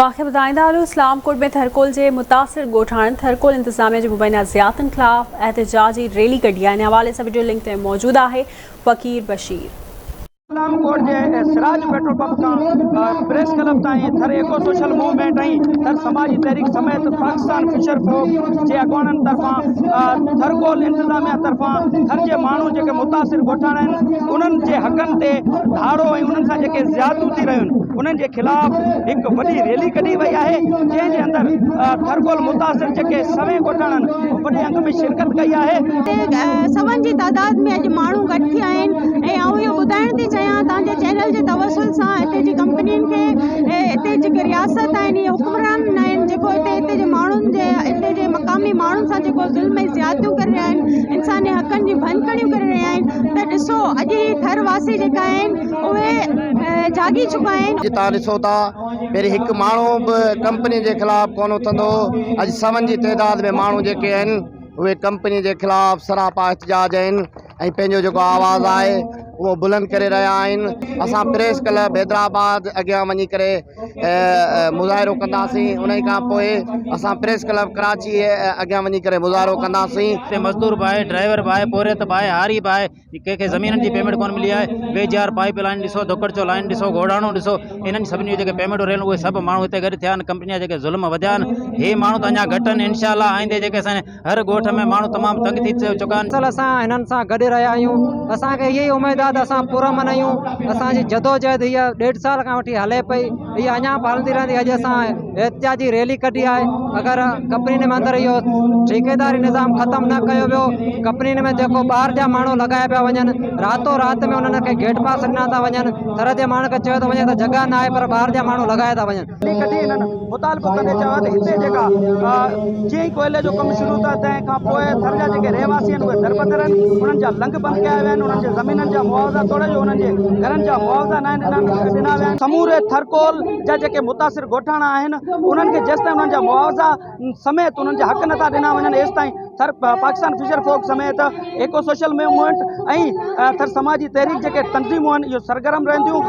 اوهان کي ٻڌائيندا هلون اسلام ڪوٽ ۾ ٿرڪول جي متاثر ڳوٺاڻن ٿرڪول انتظاميه جي مبينا زياتن خلاف احتجاجي ريلي ڪڍي آهي ان حوالي سان وڊيو لنڪ تي موجود آهي فقير بشير. اسلام ڪوٽ جي سراج پيٽرول پمپ کان پريس ڪلب تائين Thar eco social movement ۽ Thar سماجي تحريڪ سميت پاڪستان فشر فوڪ جي اڳواڻن طرفان ٿرڪول انتظاميه طرفان ٿر جي ماڻهو جيڪي متاثر ڳوٺاڻا آهن انهن جي حقن تي ڌاڙو ۽ انهن سان جيڪي زيادتيون ٿي رهيون انهن جي خلاف هڪ وڏي ريلي ڪڍي وئي آهي جنهن جي اندر ٿرڪول متاثر جيڪي سوين ڳوٺاڻن وڏي انگ ۾ شرڪت ڪئي آهي سون جي تعداد ۾ اڄ ماڻهو گڏ ٿيا آهن ۽ آئون اهو ٻڌائڻ ٿي چاهيان تان جي چينل جي توسل سان هتي جي ڪمپنين کي هتي جيڪي رياست آهن اهي حڪمران نه آهن جيڪو هتي هتي جي ماڻهن جي هتي جي مقامي ماڻهن سان جيڪو ظلم ۽ زيادتيون ڪري رهيا آهن انساني حقن جي ڀڃڪڙيون ڪري رهيا آهن ته ڏسو اڄ هي ٿر واسي جيڪا آهن اهي جهاڳي چڪا آهن. اڄ توهان ڏسو ٿا پهرين هڪ ماڻهو به ڪمپني جي خلاف ڪونه اٿندو هو اڄ سون جي تعداد ۾ ماڻهو جيڪي آهن اهي ڪمپني جي خلاف سراپا احتجاج آهن ۽ پنهنجو جيڪو آواز آهي اهو بلند ڪري رهيا آهن اسان پريس ڪلب حيدرآباد اڳيان وڃي ڪري مظاهرو ڪنداسين انهي کان پوء اسان پريس ڪلب ڪراچي اڳيان وڃي ڪري مظاهرو ڪنداسين. مزدور باهه، ڊرائيور باهه، پورهيت باهه، هاري باهه، ڪنهن کي زمينن جي پيمينٽ ڪونه ملي آهي V G R pipeline ڏسو ڌوڪڙچو لائين ڏسو گوڙهاڻو ڏسو انهن سڀني جون جيڪي پيمينٽون رهيون اهي سڀ ماڻهو هتي گڏ ٿيا آهن ڪمپني جا جيڪي ظلم وڌيا آهن هي ماڻهو ته اڃا گهٽ آهن انشاء الله آئندي جيڪي اسان هر ڳوٺ ۾ ماڻهو تمام تنگ ٿي چڪا آهن اصل اسان هنن سان گڏ رهيا آهيون اسان کي اهي ئي اميد آهي ته اسان پر امن آهيون اسان جي جدوجهد هي ڏيڍ سال کان وٺي هلي پئي اهي اڃان پالندي رهندي اڄ اسان احتجاجي ريلي ڪڍي آهي اگر ڪپنين ۾ اندر اهو ٺيڪيداري نظام ختم نه ڪيو ويو ڪپنين ۾ جيڪو ٻاهر جا ماڻهو لڳايا پيا وڃن راتو رات ۾ انهن کي گيٽ پاس ڏنا ٿا وڃن ٿر جي ماڻهن کي چيو ٿو وڃي ته جڳهه نه آهي پر ٻاهر جا ماڻهو لڳايا ٿا وڃن ريلي ڪڍي انهن مطالبو ڪندي چيو ته هتي جيڪا جيئن ئي ڪوئلي جو ڪم شروع ٿيو تنهن کان پوء ٿر جا جيڪي رهواسي آهن اهي دربدر آهن انهن جا لنگ بند ڪيا ويا آهن انهن جي زمينن جا معاوضا توڙي جو انهن جي گهرن جا معاوضا ناهن ڏنا ويا آهن سموري ٿر ڪول جا جيڪي متاثر ڳوٺاڻا آهن انهن کي جيستائين انهن جا معاوضا سميت انهن جا حق نٿا ڏنا وڃن ايستائين ٿر پاڪستان فشر فوڪ سميت ايڪو سوشل موومينٽ ۽ ٿر سماجي تحريڪ جيڪي تنظيمون آهن اهي سرگرم رهنديون